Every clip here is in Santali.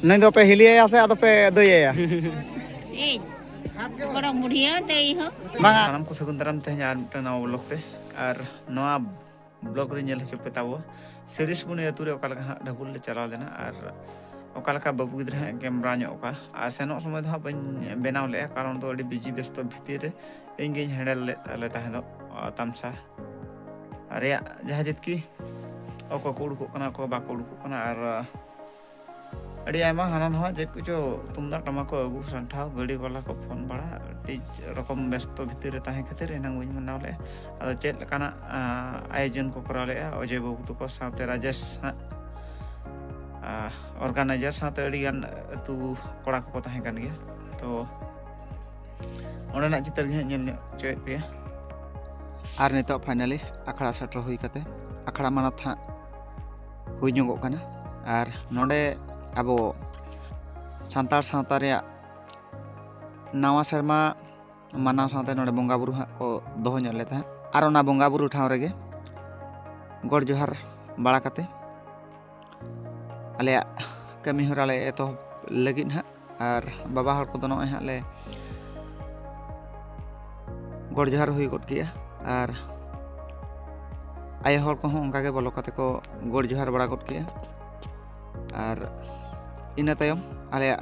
ᱱᱩᱭ ᱫᱚᱯᱮ ᱦᱤᱞᱤᱭᱟᱭᱟ ᱥᱮ ᱟᱫᱚ ᱯᱮ ᱫᱟᱹᱭᱟᱭᱟ ᱵᱟᱝᱟ ᱥᱟᱱᱟᱢ ᱠᱚ ᱥᱟᱹᱜᱩᱱ ᱫᱟᱨᱟᱢ ᱛᱮᱦᱮᱧ ᱟᱨ ᱢᱤᱫᱴᱟᱝ ᱱᱟᱣᱟ ᱵᱞᱚᱜ ᱛᱮ ᱟᱨ ᱱᱚᱣᱟ ᱵᱞᱚᱜ ᱨᱮ ᱧᱮᱞ ᱦᱚᱪᱚ ᱯᱮ ᱛᱟᱵᱚ ᱥᱤᱨᱤᱥ ᱵᱩᱱᱤ ᱟᱹᱛᱩ ᱨᱮ ᱚᱠᱟ ᱞᱮᱠᱟ ᱦᱟᱸᱜ ᱰᱷᱟᱹᱵᱩᱞ ᱞᱮ ᱪᱟᱞᱟᱣ ᱞᱮᱱᱟ ᱟᱨ ᱚᱠᱟ ᱞᱮᱠᱟ ᱵᱟᱹᱵᱩ ᱜᱤᱫᱽᱨᱟᱹ ᱦᱟᱸᱜ ᱠᱮᱢᱨᱟ ᱧᱚᱜ ᱠᱟᱜᱼᱟ ᱟᱨ ᱥᱮᱱᱚᱜ ᱥᱚᱢᱚᱭ ᱫᱚ ᱦᱟᱸᱜ ᱵᱟᱹᱧ ᱵᱮᱱᱟᱣ ᱞᱮᱜᱼᱟ ᱠᱟᱨᱚᱱ ᱫᱚ ᱟᱹᱰᱤ ᱵᱤᱡᱤ ᱵᱮᱥᱛᱚ ᱵᱷᱤᱛᱤᱨ ᱨᱮ ᱤᱧ ᱜᱤᱧ ᱦᱮᱱᱰᱮᱞ ᱞᱮᱫ ᱛᱟᱞᱮ ᱛᱟᱦᱮᱸ ᱫᱚ ᱛᱟᱢᱥᱟ ᱨᱮᱭᱟᱜ ᱡᱟᱦᱟᱸ ᱡᱤᱛᱠᱤ ᱚᱠᱚᱭ ᱠᱚ ᱩᱰᱩᱠᱚᱜ ᱠᱟᱱᱟ ᱚᱠᱚᱭ ᱵᱟᱠᱚ ᱩᱰᱩᱠᱚᱜ ᱠᱟᱱᱟ ᱟᱨ ᱟᱹᱰᱤ ᱟᱭᱢᱟ ᱦᱟᱱᱟ ᱱᱟᱣᱟ ᱪᱮᱫ ᱠᱚᱪᱚ ᱛᱩᱢᱫᱟᱜ ᱴᱟᱢᱟᱠ ᱠᱚ ᱟᱹᱜᱩ ᱥᱟᱱᱴᱷᱟᱣ ᱜᱟᱹᱰᱤ ᱵᱟᱞᱟ ᱠᱚ ᱯᱷᱳᱱ ᱵᱟᱲᱟ ᱟᱹᱰᱤ ᱨᱚᱠᱚᱢ ᱵᱮᱥᱛᱚ ᱵᱷᱤᱛᱤᱨ ᱨᱮ ᱛᱟᱦᱮᱸ ᱠᱷᱟᱹᱛᱤᱨ ᱮᱱᱟᱝ ᱵᱟᱹᱧ ᱢᱟᱱᱟᱣ ᱞᱮᱫᱼᱟ ᱟᱫᱚ ᱪᱮᱫ ᱞᱮᱠᱟᱱᱟᱜ ᱟᱭᱳᱡᱚᱱ ᱠᱚ ᱠᱚᱨᱟᱣ ᱞᱮᱫᱼᱟ ᱚᱡᱚᱭ ᱵᱟᱹᱵᱩ ᱛᱟᱠᱚ ᱥᱟᱶᱛᱮ ᱨᱟᱡᱮᱥ ᱦᱟᱸᱜ ᱚᱨᱜᱟᱱᱟᱭᱡᱟᱨ ᱥᱟᱶᱛᱮ ᱟᱹᱰᱤᱜᱟᱱ ᱟᱹᱛᱩ ᱠᱚᱲᱟ ᱠᱚᱠᱚ ᱛᱟᱦᱮᱸ ᱠᱟᱱ ᱜᱮᱭᱟ ᱛᱚ ᱚᱸᱰᱮᱱᱟᱜ ᱪᱤᱛᱟᱹᱨ ᱜᱮ ᱦᱟᱸᱜ ᱧᱮᱞ ᱧᱚᱜ ᱦᱚᱪᱚᱭᱮᱫ ᱯᱮᱭᱟ ᱟᱨ ᱱᱤᱛᱚᱜ ᱯᱷᱟᱭᱱᱟᱞᱤ ᱟᱠᱷᱲᱟ ᱥᱮᱴᱮᱨ ᱦᱩᱭ ᱠᱟᱛᱮ ᱟᱠᱷᱲᱟ ᱢᱟᱱᱚᱛ ᱦᱟᱸᱜ ᱦᱩᱭ ᱧᱚᱜᱚᱜ ᱠᱟᱱᱟ ᱟᱨ ᱱᱚᱰᱮ ᱟᱵᱚ ᱥᱟᱱᱛᱟᱲ ᱥᱟᱶᱛᱟ ᱨᱮᱭᱟᱜ ᱱᱟᱣᱟ ᱥᱮᱨᱢᱟ ᱢᱟᱱᱟᱣ ᱥᱟᱶᱛᱮ ᱱᱚᱰᱮ ᱵᱚᱸᱜᱟ ᱵᱩᱨᱩ ᱦᱟᱸᱜ ᱠᱚ ᱫᱚᱦᱚ ᱧᱚᱜ ᱞᱮᱫᱟ ᱟᱨ ᱚᱱᱟ ᱵᱚᱸᱜᱟ ᱵᱩᱨᱩ ᱴᱷᱟᱶ ᱨᱮᱜᱮ ᱜᱚᱰ ᱡᱚᱦᱟᱨ ᱵᱟᱲᱟ ᱠᱟᱛᱮ ᱟᱞᱮᱭᱟᱜ ᱠᱟᱹᱢᱤ ᱦᱚᱨᱟ ᱞᱮ ᱮᱛᱚᱦᱚᱵ ᱞᱟᱹᱜᱤᱫ ᱦᱟᱸᱜ ᱟᱨ ᱵᱟᱵᱟ ᱦᱚᱲ ᱠᱚᱫᱚ ᱱᱚᱜᱼᱚᱭ ᱦᱟᱸᱜ ᱞᱮ ᱜᱚᱰ ᱡᱚᱦᱟᱨ ᱦᱩᱭ ᱜᱚᱫ ᱠᱮᱜᱼᱟ ᱟᱨ ᱟᱭᱳ ᱦᱚᱲ ᱠᱚᱦᱚᱸ ᱚᱱᱠᱟᱜᱮ ᱵᱚᱞᱚ ᱠᱟᱛᱮ ᱠᱚ ᱜᱚᱰ ᱡᱚᱦᱟᱨ ᱵᱟᱲᱟ ᱜᱚᱫ ᱠᱮᱜᱼᱟ ᱟᱨ ᱤᱱᱟᱹ ᱛᱟᱭᱚᱢ ᱟᱞᱮᱭᱟᱜ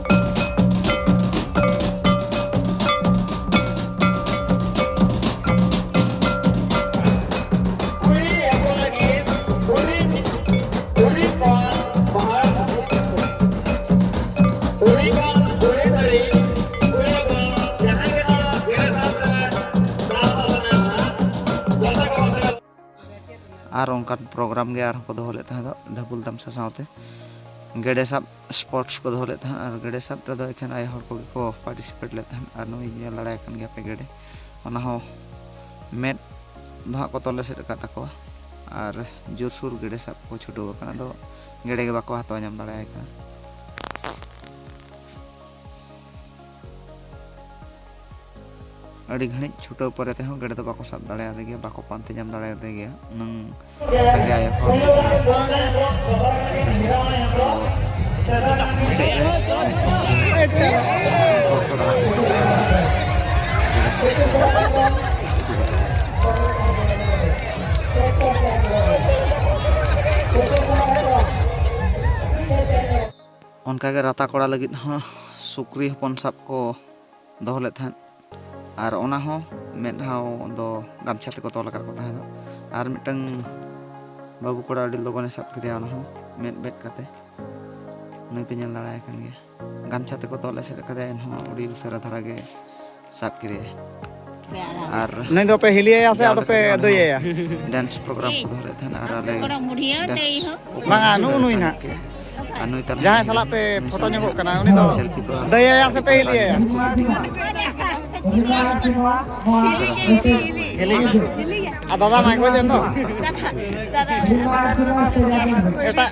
ᱟᱨ ᱚᱱᱠᱟᱱ ᱯᱨᱳᱜᱨᱟᱢ ᱜᱮ ᱟᱨᱦᱚᱸ ᱠᱚ ᱫᱚᱦᱚ ᱞᱮᱫ ᱛᱟᱦᱮᱸ ᱫᱚ ᱰᱷᱟᱹᱵᱩᱞ ᱛᱟᱢᱥᱟ ᱥᱟᱶᱛᱮ ᱜᱮᱰᱮ ᱥᱟᱵ ᱥᱯᱳᱨᱴᱥ ᱠᱚ ᱫᱚᱦᱚ ᱞᱮᱫ ᱛᱟᱦᱮᱸᱫ ᱟᱨ ᱜᱮᱰᱮ ᱥᱟᱵ ᱨᱮᱫᱚ ᱮᱠᱷᱮᱱ ᱟᱭᱳ ᱦᱚᱲ ᱠᱚᱜᱮ ᱠᱚ ᱯᱟᱨᱴᱤᱥᱤᱯᱮᱴ ᱞᱮᱫ ᱛᱟᱦᱮᱸᱫ ᱟᱨ ᱱᱩᱭ ᱧᱮᱞ ᱫᱟᱲᱮᱭᱟᱭ ᱠᱟᱱ ᱜᱮᱭᱟ ᱯᱮ ᱜᱮᱰᱮ ᱚᱱᱟ ᱦᱚᱸ ᱢᱮᱫ ᱫᱚ ᱦᱟᱸᱜ ᱠᱚ ᱛᱚᱞ ᱮᱥᱮᱫ ᱟᱠᱟᱫ ᱛᱟᱠᱚᱣᱟ ᱟᱨ ᱡᱳᱨ ᱥᱩᱨ ᱜᱮᱰᱮ ᱥᱟᱵ ᱠᱚ ᱪᱷᱩᱴᱟᱹᱣ ᱟᱠᱟᱱᱟ ᱟᱫᱚ ᱜᱮᱰᱮ ᱜᱮ ᱵᱟᱠᱚ ᱦᱟᱛᱟᱣ ᱧᱟᱢ ᱫᱟᱲᱮᱭᱟᱭ ᱠᱟᱱᱟ ᱟᱹᱰᱤ ᱜᱷᱟᱹᱲᱤᱡ ᱪᱷᱩᱴᱟᱹᱣ ᱯᱚᱨᱮ ᱛᱮᱦᱚᱸ ᱜᱮᱰᱮ ᱫᱚ ᱵᱟᱠᱚ ᱥᱟᱵ ᱫᱟᱲᱮᱭᱟᱫᱮ ᱜᱮᱭᱟ ᱵᱟᱠᱚ ᱯᱟᱱᱛᱮ ᱧᱟᱢ ᱫᱟᱲᱮᱭᱟᱫᱮ ᱜᱮᱭᱟ ᱩᱱᱟᱹᱝ ᱥᱟᱸᱜᱮ ᱟᱭᱳ ᱦᱚᱲ ᱢᱩᱪᱟᱹᱫ ᱨᱮ ᱚᱱᱠᱟᱜᱮ ᱨᱟᱛᱟ ᱠᱚᱲᱟ ᱞᱟᱹᱜᱤᱫ ᱦᱚᱸ ᱥᱩᱠᱨᱤ ᱦᱚᱯᱚᱱ ᱥᱟᱵ ᱠᱚ ᱫᱚᱦᱚ ᱞᱮᱫ ᱛᱟᱦᱮᱸᱫ ᱟᱨ ᱚᱱᱟ ᱦᱚᱸ ᱢᱮᱫ ᱦᱟᱣ ᱫᱚ ᱜᱟᱢᱪᱷᱟ ᱛᱮᱠᱚ ᱛᱚᱞ ᱟᱠᱟᱫ ᱠᱚ ᱛᱟᱦᱮᱸᱫ ᱟᱨ ᱢᱤᱫᱴᱟᱝ ᱵᱟᱹᱵᱩ ᱠᱚᱲᱟ ᱟᱹᱰᱤ ᱞᱚᱜᱚᱱᱮ ᱥᱟᱵ ᱠᱮᱫᱮᱭᱟ ᱚᱱᱟ ᱦᱚᱸ ᱢᱮᱫ ᱵᱮᱫ ᱠᱟᱛᱮ ᱩᱱᱤ ᱯᱮ ᱧᱮᱞ ᱫᱟᱲᱮᱭᱟᱭ ᱠᱟᱱ ᱜᱮᱭᱟ ᱜᱟᱢᱪᱷᱟ ᱛᱮᱠᱚ ᱛᱚᱞ ᱮᱥᱮᱫ ᱠᱟᱫᱮᱭᱟ ᱮᱱᱦᱚᱸ ᱟᱹᱰᱤ ᱩᱥᱟᱹᱨᱟ ᱫᱷᱟᱨᱟ ᱜᱮ ᱥᱟᱵ ᱠᱮᱫᱮᱭᱟ ᱟᱨ ᱱᱩᱭ ᱫᱚ ᱯᱮ ᱦᱤᱞᱤᱭᱟᱭᱟ ᱥᱮ ᱟᱫᱚ ᱯᱮ ᱫᱚᱭᱟᱭᱟ ᱰᱮᱱᱥ ᱯᱨᱳᱜᱨᱟᱢ ᱠᱚ ᱫᱚᱦᱚ ᱞᱮᱫ ᱛᱟᱦᱮᱱᱟ ᱟᱨ ᱟᱞᱮ ᱰᱮᱱᱥ ᱵᱟᱝᱟ ᱱᱩᱜ ᱱᱩᱭ ᱱᱟᱜ ᱟᱨ ᱱᱩᱭ ᱛᱟᱞᱟ ᱡᱟᱦᱟᱸᱭ ᱥᱟᱞᱟᱜ ᱯᱮ ᱯᱷᱳᱴᱳ ᱧᱚᱜᱚᱜ ᱠᱟᱱᱟ ᱩᱱᱤ ᱫᱚ ᱥᱮᱞᱯᱷᱤ ᱠᱚ ᱫᱚᱭᱟᱭᱟ ᱥᱮ ᱯᱮ ᱦᱤᱞᱤᱭᱟᱭᱟ ᱟᱨ ᱫᱟᱫᱟ ᱢᱟᱭ ᱜᱚᱡ ᱮᱱ ᱫᱚ ᱮᱴᱟᱜ